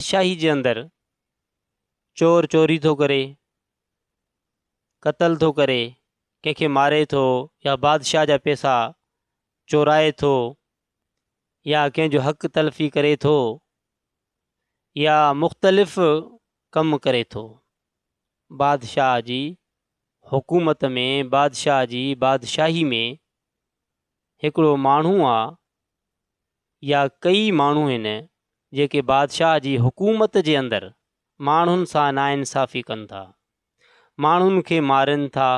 بادشاهي جي اندر چور چوري ٿو ڪري، قتل ٿو ڪري، ڪنهن کي ماري ٿو يا بادشاهه جا پيسا چورائي ٿو يا ڪنهن جو حق تلفي ڪري ٿو يا مختلف ڪم ڪري ٿو. بادشاهه جي حڪومت ۾ بادشاهه جي بادشاهي ۾ هڪڙو ماڻهو آ يا ڪيئي ماڻهو هن جيڪي بادشاهه جي حڪومت جي اندر ماڻهن سان ناانصافي ڪن ٿا، ماڻهن کي مارين ٿا،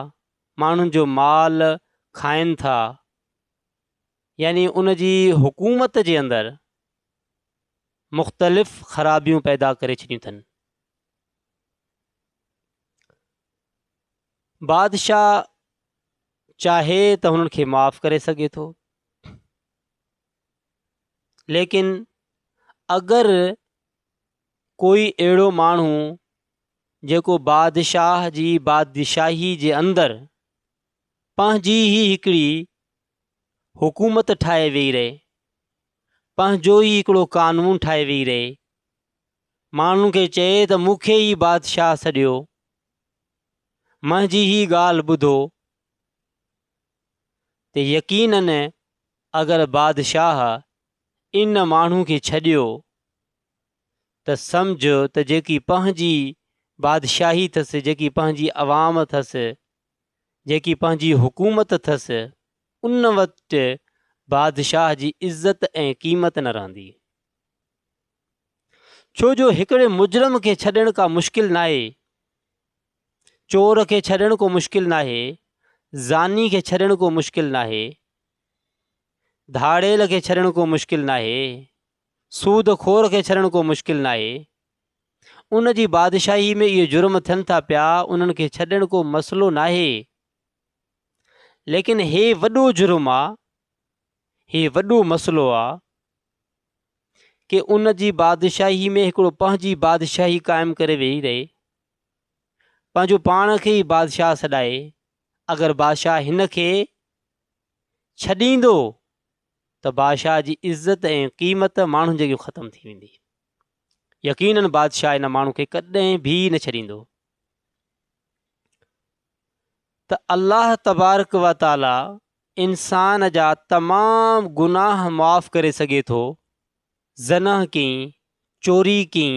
ماڻهن جو مال کائين ٿا، يعني ان جي حڪومت جي اندر مختلف خرابيون پيدا ڪري ڇڏيون اٿن. بادشاهه چاهي ته هنن کي معاف ڪري سگهي ٿو، ليڪن اگر ڪوئي اهڙو ماڻهو جيڪو بادشاهه جي بادشاهي جي اندر پنهنجي ئي هڪڙي حڪومت ٺاهي ويهي رهي پنهنجو ئي هڪڙو قانون ٺاهي ويهي رهي ماڻهن کي چئي ته مون کي ئي بادشاهه سڏيو منهنجي هي ڳالهه ٻڌو ته يقينن اگر بادشاهه ان ماڻهو کي ڇڏيو ته سمجهه ته جيڪي پنهنجي بادشاهي اٿس، جيڪي پنهنجي عوام اٿس، جيڪي پنهنجي حڪومت اٿس، ان وٽ بادشاهه جي عزت ۽ قيمت نه رهندي. ڇو جو هڪڙي مجرم کي ڇڏڻ ڪا مشڪل ناهي. چور کي ڇڏڻ ڪو مشڪل ناهي، زاني کي ڇڏڻ ڪو مشڪل ناهي، ڌاڙيل کي ڇڏڻ ڪو مشڪل ناهي، سود خور کي ڇڏڻ ڪو مشڪل ناهي. ان جي بادشاهي ۾ اهي جرم ٿين ٿا پيا، انهن کي ڇڏڻ ڪو مسئلو ناهي. ليڪن هي وڏو جرم آ، هي وڏو مسئلو آ ڪي ان جي بادشاهي ۾ هڪڙو پنهنجي بادشاهي قائم ڪري ويهي رهي. پنهنجو پاڻ کي ئي بادشاهه سڏائي اگر بادشاهه هن کي ڇڏيندو ته بادشاهه جي عزت ۽ قيمت ماڻهن جي اڳيان ختم ٿي ويندي يقينن بادشاهه ان ماڻهو کي ڪڏهن به نه ڇڏيندو ته الله تبارڪ و تعاليٰ انسان جا تمام گناهه معاف ڪري سگهي ٿو زنه ڪين چوري ڪين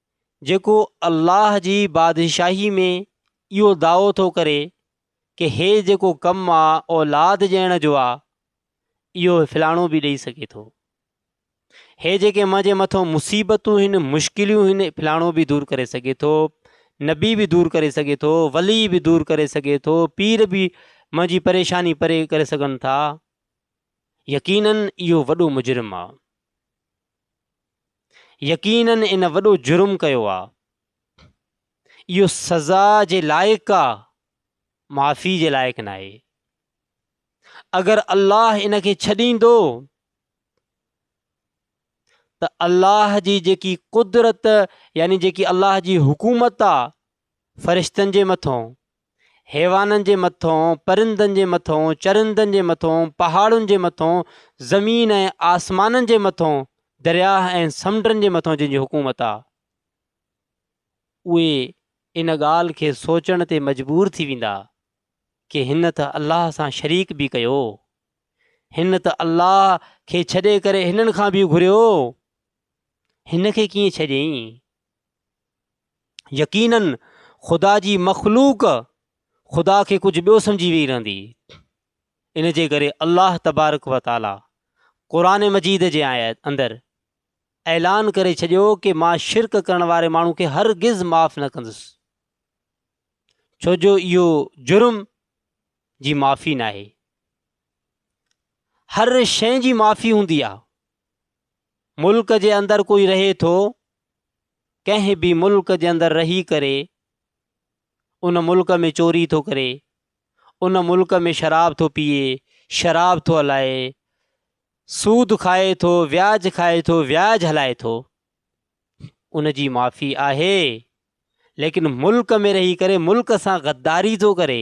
جيڪو الله جي بادشاهي ۾ اهو دعوو ٿو ڪري ڪي هي جيڪو ڪم آ اولاد ڄيڻ جو آ اهو فلاڻو به ڏئي سگهي ٿو هي جيڪي منهنجي مٿو مصيبتون هن مشڪليون هن فلاڻو به دور ڪري سگهي ٿو نبي به دور ڪري سگهي ٿو ولي به دور ڪري سگهي ٿو پير به منهنجي پريشاني پري ڪري سگهن ٿا يقينن اهو وڏو مجرم آ يقينن ان وڏو جرم ڪيو آ اهو سزا جي لائق آ معافي جي لائق ناهي اگر الله ان کي ڇڏيندو ته الله جي جيڪي قدرت يعني جيڪي الله جي حڪومت آ فرشتن جي مٿون، حيوانن جي مٿون، پرندن جي مٿون، چرندن جي مٿون، پهاڙن جي مٿون، زمين ۽ آسمانن جي مٿون، درياهه ۽ سمنڊن جي مٿون جن جي حڪومت آ، اهي ان ڳالهه کي سوچڻ تي مجبور ٿي ويندا ڪي هن ته الله سان شريڪ به ڪيو، هن ته الله کي ڇڏي ڪري هنن کان به گهريو، هن کي ڪيئن ڇڏيئين؟ يقيناً خدا جي مخلوق خدا کي ڪجهه ٻيو سمجهي ويئي رهندي ان جي ڪري الله تبارڪ و تعاليٰ قرآن مجيد جي آيت اندر اعلان ڪري ڇڏيو ڪي مان شرڪ ڪرڻ واري ماڻهو کي هرگز معاف نه ڪندس ڇو جو اهو جرم جي معافي ناهي هر شي جي معافي هوندي آهي ملڪ جي اندر ڪوئي رهي ٿو ڪنهن به ملڪ جي اندر رهي ڪري ان ملڪ ۾ چوري ٿو ڪري ان ملڪ ۾ شراب ٿو پيئي شراب ٿو هلائي سود کائي ٿو وياج کائي ٿو وياج هلائي ٿو ان جي معافي آهي ليڪن ملڪ ۾ رهي ڪري ملڪ سان غداري ٿو ڪري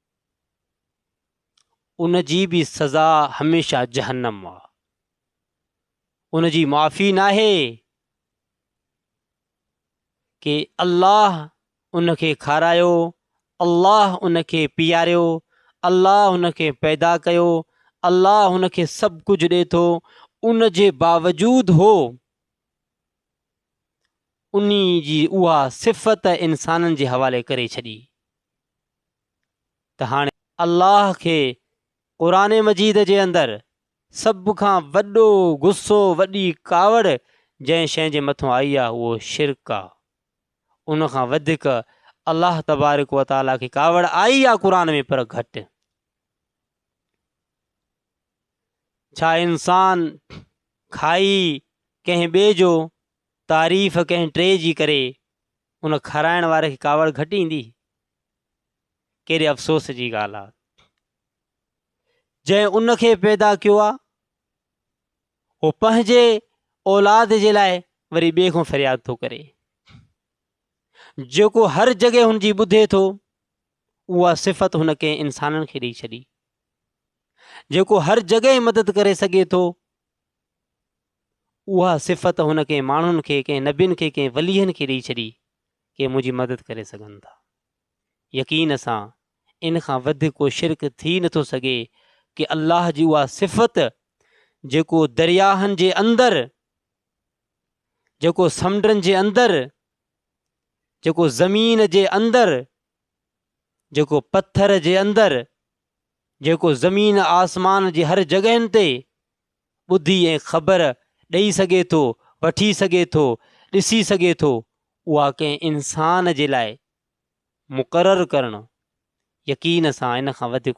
ان جي به سزا هميشه جهنم آ ان جي معافي ناهي ڪي الله ان کي کارايو الله ان کي پياريو الله ان کي پيدا ڪيو الله ان کي سڀ ڪجهه ڏي ٿو ان جي باوجود هو اني جي اها صفت انسانن جي حوالي ڪري ڇڏي ته هاڻي الله کي قرآن مجيد جي اندر سڀ کان وڏو غصو وڏي ڪاوڙ جنهن شيء جي مٿان آئي آهي اهو شرڪ آهي ان کان وڌيڪ الله تبارڪ و تعالي کي ڪاوڙ آئي آهي قرآن ۾ پر گهٽ ڇا انسان کائي ڪنهن ٻئي جو تعريف ڪنهن ٽي جي ڪري ان کارائڻ واري کي ڪاوڙ گهٽ ايندي؟ ڪهڙي افسوس جي ڳالهه آ جنهن ان کي پيدا ڪيو آ هو پنهنجي اولاد جي لاء وري ٻي کان فرياد ٿو ڪري جيڪو هر جڳهه هن جي ٻڌي ٿو اها صفت هن ڪنهن انسانن کي ڏيئي ڇڏي جيڪو هر جڳهه مدد ڪري سگهي ٿو اها صفت هن ڪنهن ماڻهن کي، ڪنهن نبين کي، ڪنهن وليين کي ڏئي ڇڏي ڪي منهنجي مدد ڪري سگهن ٿا. يقين سان ان کان وڌيڪ ڪو شرڪ ٿي نه ٿو سگهي ڪي الله جي اها صفت جيڪو درياهن جي اندر جيڪو سمنڊن جي اندر جيڪو زمين جي اندر جيڪو پٿر جي اندر جيڪو زمين آسمان جي هر جڳهن تي ٻڌي ۽ خبر ڏئي سگهي ٿو، وٺي سگهي ٿو، ڏسي سگهي ٿو، اها ڪنهن انسان جي لاء مقرر ڪرڻ يقين سان ان کان وڌيڪ